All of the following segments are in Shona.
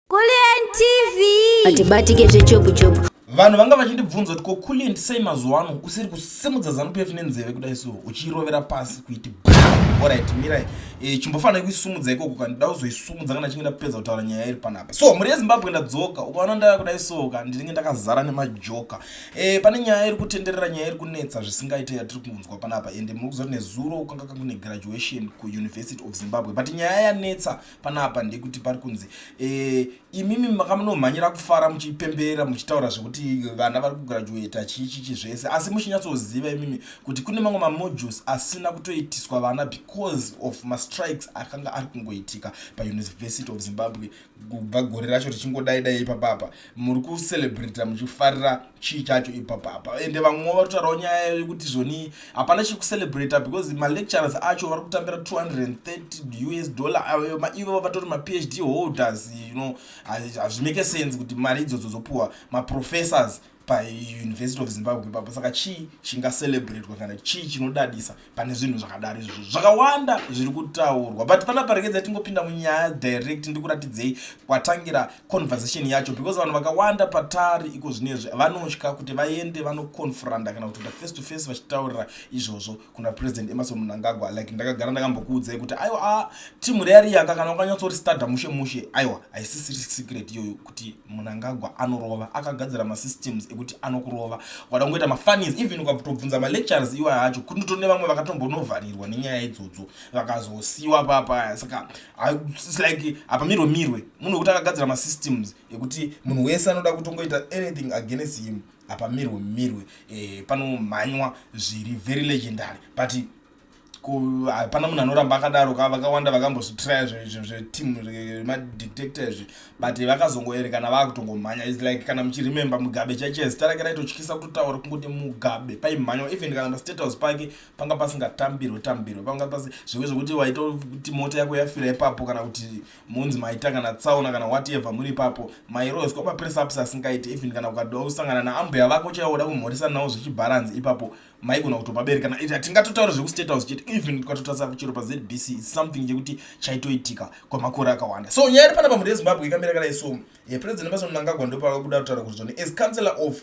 Kulliant TV. Atibatike zvechopu chopu. Vanhu vanga vachindibvunza kuti ko Kulliant sei mazuva ano usiri kusimudza zanu PF nenzeve kudai so uchirovera pasi kuiti alright mirai eh chimbofanira kuisumudza ikoko kana ndida kuzoisumudza kana chinge ndapedza kutaura nyaya iri panapa so mhuri yezimbabwe ndadzoka ukaona ndaya kudai soka ndinenge ndakazara nemajoka eh pane nyaya iri kutenderera nyaya iri kunetsa zvisingaite yatiri kunzwa panapa ende muri kuziva kuti nezuro kwanga kune graduation kuuniversity of zimbabwe but nyaya yanetsa panapa ndekuti pari kunzi e, imimi makamunomhanyira kufara muchipembera muchitaura zvekuti vana vari kugraduata chii chichi zvese asi muchinyatsoziva imimi kuti kune mamwe mamodules asina kutoitiswa vana because of mastrikes akanga ari kungoitika pauniversity of zimbabwe kubva gore racho richingodai dai ipapapa muri kucelebrata muchifarira chii chacho ipapa apa ende vamwe vatotaurawo nyaya yekuti zvoni hapana chekucelebrata because malecturers acho vari kutambira 230 us dollar ivo vatori maphd holders you know hazvimake sense kuti mari idzodzo dzopuwa maprofessors pauniversity of zimbabwe ipapo saka chii chingacelebratwa kana chii chinodadisa pane zvinhu zvakadaro izvozvo zvakawanda zviri kutaurwa but pana parekedza tingopinda munyaya direct ndikuratidzei kwatangira conversation yacho because vanhu vakawanda patari iko zvinezvi vanotya kuti vaende vanoconfronta kana kuti face to face vachitaurira izvozvo kuna president emerson mnangagwa like ndakagara ndakambokuudzai kuti aiwa a ah, timu reariyaka kana ukanyatsoristada mushe mushe aiwa haisisiri secret iyoyo kuti munangagwa anorova akagadzira masystems ekuti anokurova ukada kungoita mafunis even ukatobvunza malectures iwa acho kuti ndotone vamwe vakatombonovharirwa nenyaya idzodzo vakazosiwa papaya saka its like hapamirwe mirwe munhu wekuti akagadzira masystems ekuti munhu wese anoda kutongoita anything against him hapamirwe mirwe e, panomhanywa zviri very legendary but hapana munhu anoramba akadaro ka vakawanda vakambozvitraya zveteam remadictator izvi but vakazongoerekana vakutongomhanya is like kana muchiremember mugabe chaiche zita rake raitotyisa kutotaura kungoti mugabe paimhanywa even kana pastate house pake panga pasingatambirwe tambirwe panga pasi zvive zvekuti waitoti mota yako yafira ipapo kana kuti munzi maita kana tsaona kana whatever muri ipapo mairoeswa mapress ups asingaiti even kana ukadosangana naambuya vako chaiwoda kumhorisa nawo zvichibharanzi ipapo maigona kutopa bere kana ita tingatotaura zvekustate house chete even tikatotarisa kuchero pazbc is something chekuti chaitoitika kwemakore akawanda so nyaya iri panapa mhuri yezimbabwe ikamira kadai so eh, president emerson mnangagwa ndopavakuda kutaura kuti zvone as councillor of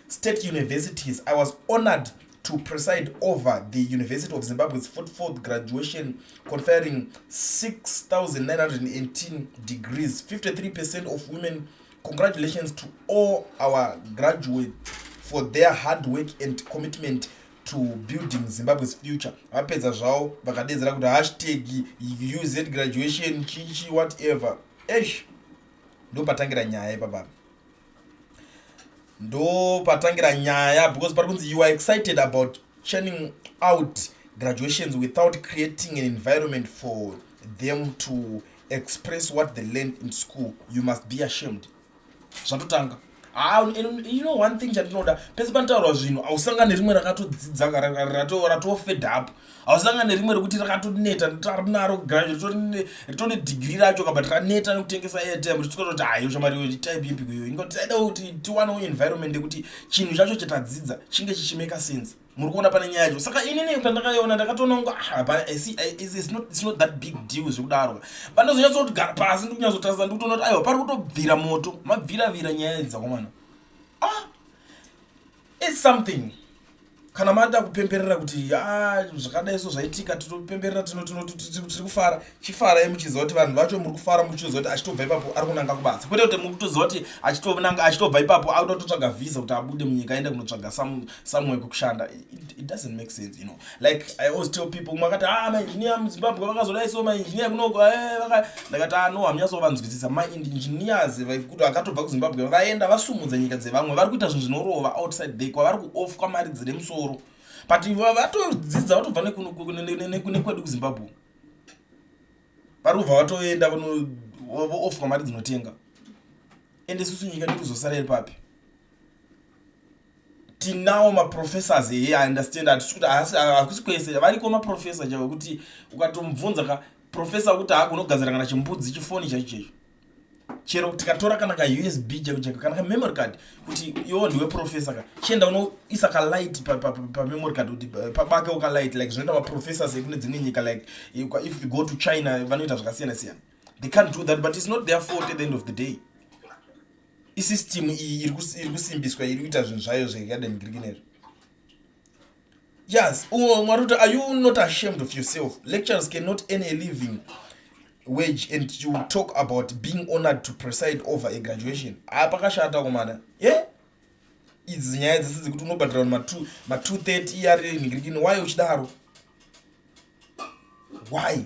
state universities i was honored to preside over the university of zimbabwe's 44th graduation conferring 6918 degrees 53 percent of women Congratulations to all our graduate for their hard work and commitment to building Zimbabwe's future. Vapedza zvavo vakadedzera kuti hashtag UZ graduation chichi whatever. Eish. Ndopatangira nyaya ipapa. Ndopatangira nyaya because pari kunzi you are excited about churning out graduations without creating an environment for them to express what they learned in school you must be ashamed zvatotanga ah, you know one thing chandinoda pese panotaurwa zvinhu hausanga nerimwe rakatodzidza ratofed up hausanga nerimwe rekuti rakatoneta tarinaro graduate rito nedigiri racho kabat raneta nekutengesa airtime richikototi hayo shamariyo type yepi kuyo ingoti taida kuti tiwanewo environment yekuti chinhu chacho chatadzidza chinge chichimeka sense muri kuona pane nyaya yacho saka inini pandakaiona ndakatononga ah, hapanaisnot that big deal zvekudaro pandozonyatsa kuti gara pasi ndikunyatsotarisa ndikutoona kuti aiwa pari kutobvira moto mabviravira nyaya idzi dzakomana ah its something kana mada kupemberera kuti ah, zvakadai so zvaitika tinopemberera tiri kufara chifarai muchiziva kuti vanhu vacho muri kufara muchitoziva kuti achitobva ipapo ari kunanga kubasa kwete kuti muri kutoziva kuti achitobnanga achitobva ipapo akutototsvaga visa kuti abude munyika aende kunotsvaga somewhere kwekushanda it doesn't make sense you know like i always tell people umwe akati ah mainjiniya muzimbabwe vakazodai so mainjiniya kunoko eh, vaka ndakati ah no hamunyasovanzwisisa mainjinias vaikuti vakatobva kuzimbabwe vaenda vasumudza nyika dzevamwe vari kuita zvinhu zvinorova outside the kwavari kuoff kwamari dziri musoro but vatodzidza vatobva nekwedu kuzimbabwe vari kubva vatoenda vanoofwa mari dzinotenga ende isusu nyika ndi kuzosara iri papi tinawo maprofessors here i understand hatisi kuti hakusi kwese variko maprofessor chavo kuti ukatomubvunza ka professor wekuti haagona kugadzira kana chimbudzi chifoni chaicho chaicho chero tikatora kana ka usb cheko cheko kana ka memory card kuti iwo ndiwe professor ka chienda unoisa ka light pa, pa, pa, pa memory card kuti pabake uka light like zvinoita ma professors ekune dzimwe nyika like if you go to china vanoita zvakasiyana siyana they can't do that but it's not their fault at the end of the day isystem iyi iri kusimbiswa iri kuita zvinhu zvayo zvekademgirikinezvo Yes, oh, Maruta, are you not ashamed of yourself? Lecturers cannot earn a living wage and you talk about being honored to preside over a graduation. Ah, pakashata komana. Yeah? Idzi nyaya dzese dzekuti unobhadhira ma 230 iyari ningirikini why uchidaro? Why?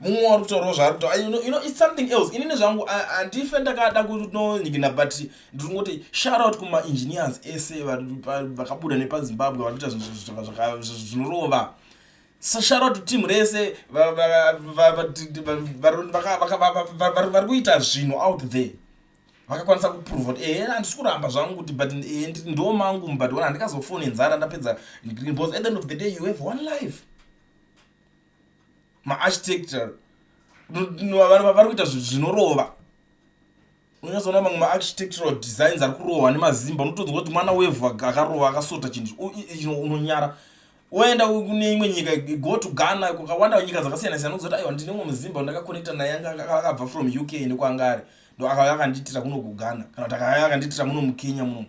mumwe wari kutaurawo zvaari kutaura you know, you know, it's something else inini zvangu handife ndakada kunonyikina but ndiri kungoti shout out kumaengineers ese vakabuda nepazimbabwe vari kuita zvinorova shout out team rese vari kuita zvinhu out there vakakwanisa kuprova kuti ehe handisi kuramba zvangu kuti but eh, ndo mangu but ona handikazofone nzara ndapedza because at the end of the day you have one life maarchitecture vari kuita zvinorova unyazoona mamwe maarchitectural designs ari kurohwa nemazimba unotonzwa kuti mwana wevhu akarova akasota chinhu unonyara woenda kune imwe nyika go to ghana kukawanda nyika dzakasiyana siyana unozoita aiwa ndine umwe muzimba ndakakonekta naye akabva from uk nekwaanga ari ndo akauya akandiitira kuno kughana kana kuti akauya akandiitira muno mukenya muno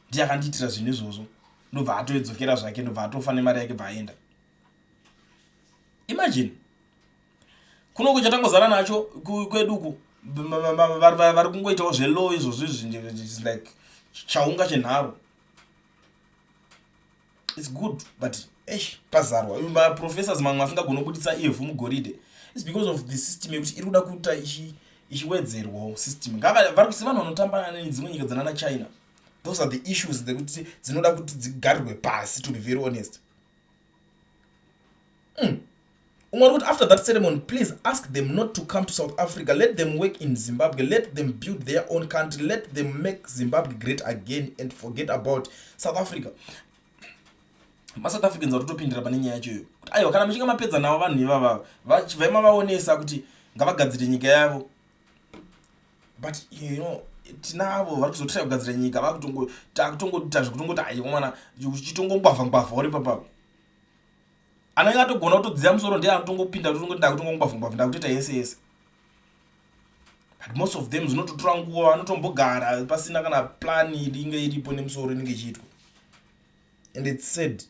ndiye akandiitira zvinhu izvozvo ndobva atoedzokera zvake ndobva atofa nemari yake bva aenda imagine kuno kuchatangozara nacho kwedu uku vari kungoitawo zvelow izvozvo izvi like chaunga chenharo its good but esh pazarwa maprofessors mamwe asingagoni kubudisa ivhu mugoridhe its because of the system yekuti iri kuda kuita ichiwedzerwawo system vari kusi vanhu vanotamba nedzimwe nyika dzanana china those are the issues dzekuti dzinoda kuti dzigarirwe pasi to be very honest mm. umwe ari kuti after that ceremony please ask them not to come to south africa let them work in zimbabwe let them build their own country let them make zimbabwe great again and forget about south africa masouth africans vatotopindira pane nyaya yacho iyo kuti aiwa kana muchinge mapedza navo vanhu ivavava vaimavaonesa kuti ngavagadzire nyika yavo but you know tinavo vari kuzotira kugadzira nyika vakutongotakutongoita zvekutongoita aiwana uchitongongwavha ngwavha uri papapo anenge atogona kutodziya musoro ndiye anotongopinda totongoita kutongongwavha ngwavha ndakutoita yese yese but most of them zvinototora nguva vanotombogara pasina kana plan inenge iripo nemusoro inenge ichiitwa and its said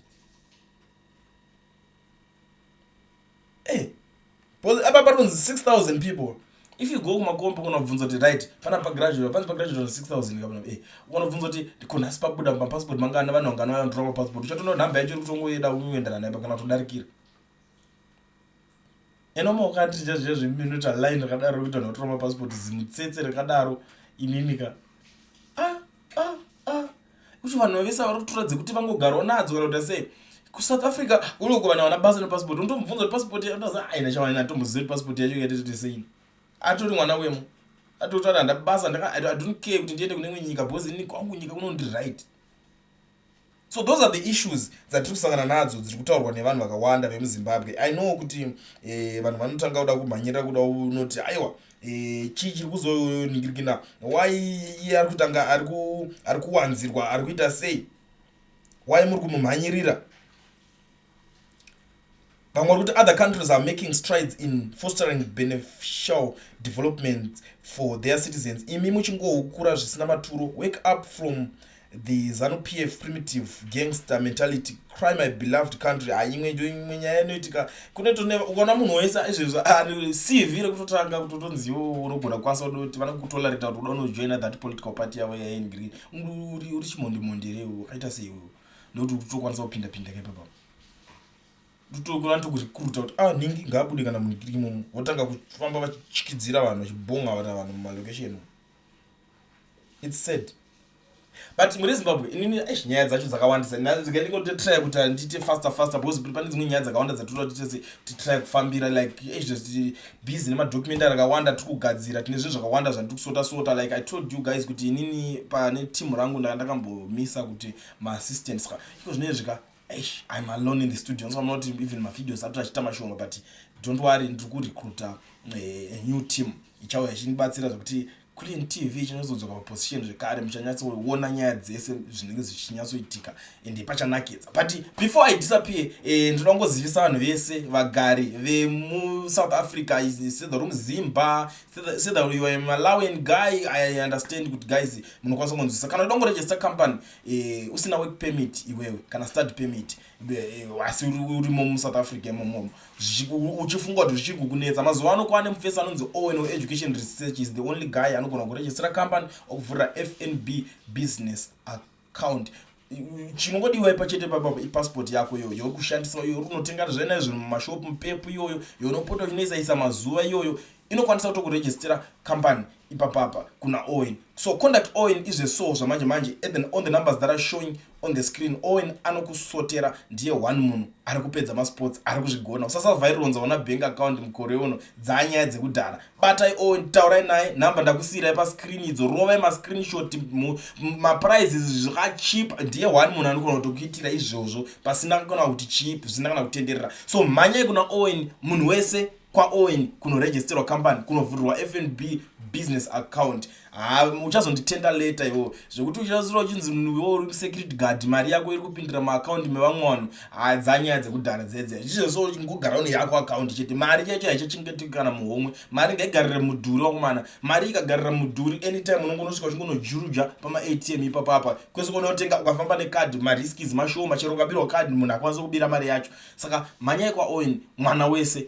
hey, eh, because apa patonzi 6000 people if you go kumakomba unobvunza kuti right pana pagraduate panzi pagraduate on 6000 kapana eh unobvunza kuti ndikonasi pabuda mapassport mangana vanhu vangana vanotora mapassport uchatono nhamba yacho ikutongoyeda uyoendana naye pakana todarikira eno maukati zvezve zveminute aline rakadaro kuita notora mapassport zimutsetse rakadaro ininika ah, ah. kuti vanhu vavese vari kutora dzekuti vangogarwa nadzo kana kuita sei kusouth africa kuri kuvana vana basa nepassport unotomubvunza kuti passport yaaa aina chavanani atomboziva kuti passport yacho yaitete sei atori mwana wemo atoti ati handa basa ndaka i don't care kuti ndiende kune imwe nyika because ini kwangu nyika kunondiri right so those are the issues dzatiri kusangana nadzo dziri kutaurwa nevanhu vakawanda vemuzimbabwe i know kuti eh, vanhu vanotanga kuda kumhanyirira kuda unoti aiwa eh, chii chiri kuzoningirikina why iye ari kutanga ari kuwanzirwa ari kuita sei why muri kumumhanyirira vamwe vari kuti other countries are making strides in fostering beneficial development for their citizens imi muchingoukura zvisina maturo wake up from the zanu p f primitive gangster mentality cry my beloved country haimwe ah, imwe nyaya inoitika kunetoukana munhu wese izvezvo ari cv rekutotanga kutotonziwo unogona kwasa udoti vana kutolarita kuti uda unojoina that political party yavo yaengri uri chimondimondi reu akaita seiwewo ndokuti kutokwanisa kupinda pinda ke papa ndotokona tokuzvikuruta kuti ah nhingi ngaabude kana munikiri imomo votanga kufamba vachityidzira vanhu vachibhonga vana vanhu mumalocation its sad but mune zimbabwe inini eish nyaya dzacho dzakawandisa ndikandingototraya kuti andiite faster faster because pane dzimwe nyaya dzakawanda dzatoda kuti tese titraya kufambira like eish busy nemadocumentary akawanda tiri kugadzira tine zvinhu zvakawanda zvandiri kusota sota like i told you guys kuti inini pane team rangu ndaka ndakambomisa kuti maassistants ka iko zvinezvi ka eish im alone in the studio ndosaka munoti even mavideos atoti achiita mashoma but don't worry ndiri kurecruita eh, new team ichauya ichindibatsira zvekuti Clean TV ichinyatsodzwa paposition zvekare muchanyatsoona nyaya dzese zvinenge zvichinyatsoitika ende pachanakidza but before i disappear eh, ndinoda kungozivisa vanhu vese vagari vemusouth africa sedha romuzimba sedha yoa malawian guy i understand kuti guys munokwanisa kunzwisa kana uda kungorejesta company eh, usina work permit iwewe kana start permit asi urimo musouth africa imomomo uchifunga kuti zvichiri kukunetsa mazuva ano kwane mufesi anonzi owen education research is the only guy anogona kurejistira company okuvhurira fnb business account chinongodiwa ipa chete papapa ipassport yako iyoyo yokushandisa iyoyo unotenga zvena izvo mumashopu mupepu iyoyo younopota uchinoisaisa mazuva iyoyo inokwanisa kutokurejistira company ipapapa kuna Owen so conduct Owen izve so zvamanje manje at the, on the numbers that are showing on the screen Owen anokusotera ndiye one munhu ari kupedza masports ari kuzvigona usasavhaironza ona bank account mukore uno dzanyaya dzekudhara batai Owen taurai naye number ndakusiirai pascreen idzo rovai mascreenshot maprizes zvakachip ndiye one munhu anogona kutokuitira izvozvo pasina kana kuti chip zvisina kana kutenderera so mhanyai kuna Owen munhu wese kwaowen kunoregisterwa company kunovhurirwa fnb business account ha uchazonditenda leta iwo zvekuti uchazura uchinzi mnuwo uri security guard mari yako iri kupindira maakaunti mevamwe vanhu hadzanyaya dzekudhara dzedze zvichizvo ngogara une yako akaunti chete mari chaicho haichachengetiki kana muhomwe mari ngaigarire mudhuri wakomana mari ikagarira mudhuri anytime unonge unosvika uchingonojuruja pamaatm ipapapa kwese konotenga ukafamba nekadi mariskis mashoma chero ukabirwa kadi munhu akwanisa kubira mari yacho saka mhanyai kwaowen mwana wese